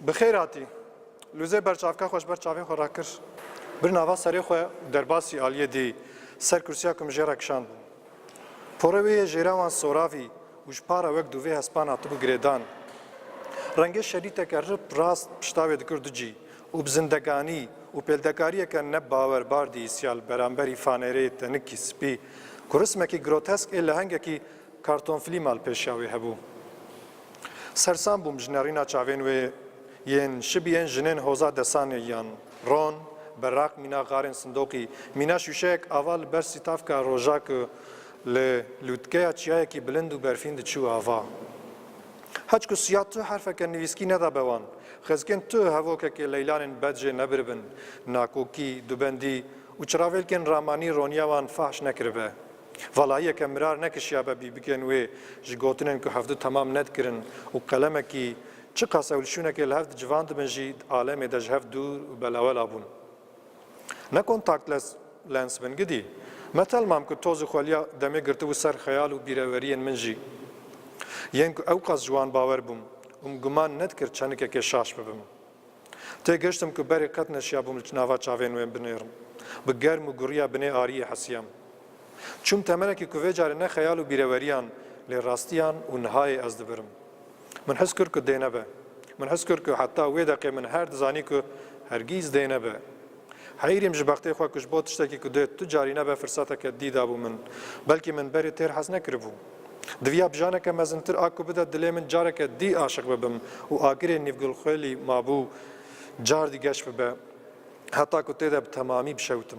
Bi xêr hatî. Lûzê berçavka xwe ji ber çavên xwe rakir. Bir nava serê xwe û derbasî aliyê dî ser kursiya ku min jê re kişand bû. Porê wê yê jêra wan soravî û ji para wek dûvê hespan hatibû girêdan. Rengê şerîteke rip rast pişta wê dikir du cî û bi zindeganî û pêldekariyeke ne bawerbar dihîstiya li beramberî fanêreyê tenikî spî ku rismekî grotesk ê lehengekî Kartonfilî mal pêşiya wê hebû. Sersan bûm ji nerîna çavên wê yên şibî yên jinên hoza desanê yan. Ron, beraq mîna xarên sindoqî, mîna şûşeyek ava li ber sîtavka roja ku li lûtkeya çiyayekî bilind û berfîn diçû ava. Heç ku siya tu herfeke nivîskî nedabe wan, xizkên tu hevokekê leylanên bed jê nebiribin, nakokî, dubendî û çiravêlkên ramanî roniya wan fahş nekiribe. Valayiyeke mirar nekişiyabe bî bikin wê ji gotinên ku hevdu temam nedkirin û qelemekî çiqas ew li şûnekê li hev dicivandibin jî di alemê de ji hev dûr û belawela bûn. Ne kontaktless lens bin gidî. Me telmam ku toz û xweliya demê girtibû ser xeyal û bîreweriyên min jî. Yên ku ewqas ji wan bawer bûm û min guman nedikir çenikekê şaş bibim. Têgihiştim ku berê qet neşiyabûm li nava çavên wê binêrim. Bi germ û guriya binê ariyê hesiyam. Çûm temenekî ku vê carê ne xeyal û bîreweriyan lê rastiyan û nihayê ez dibirim. Min his kir ku dê nebe. Min his kir ku heta wê deqê min her dizanî ku hergîz dê nebe. Heyîrî min ji bextê xwe ku ji bo tiştekî ku dê tu carî nebe firsateke dî dabû min. Belkî min berê têr hez nekiribû. Diviya bijaneke mezintir a ku bide dilê min careke dî aşiq bibim û agirê nîvgulxwêlî mabû car dî geş bibe heta ku tê de bi temamî bişewtim.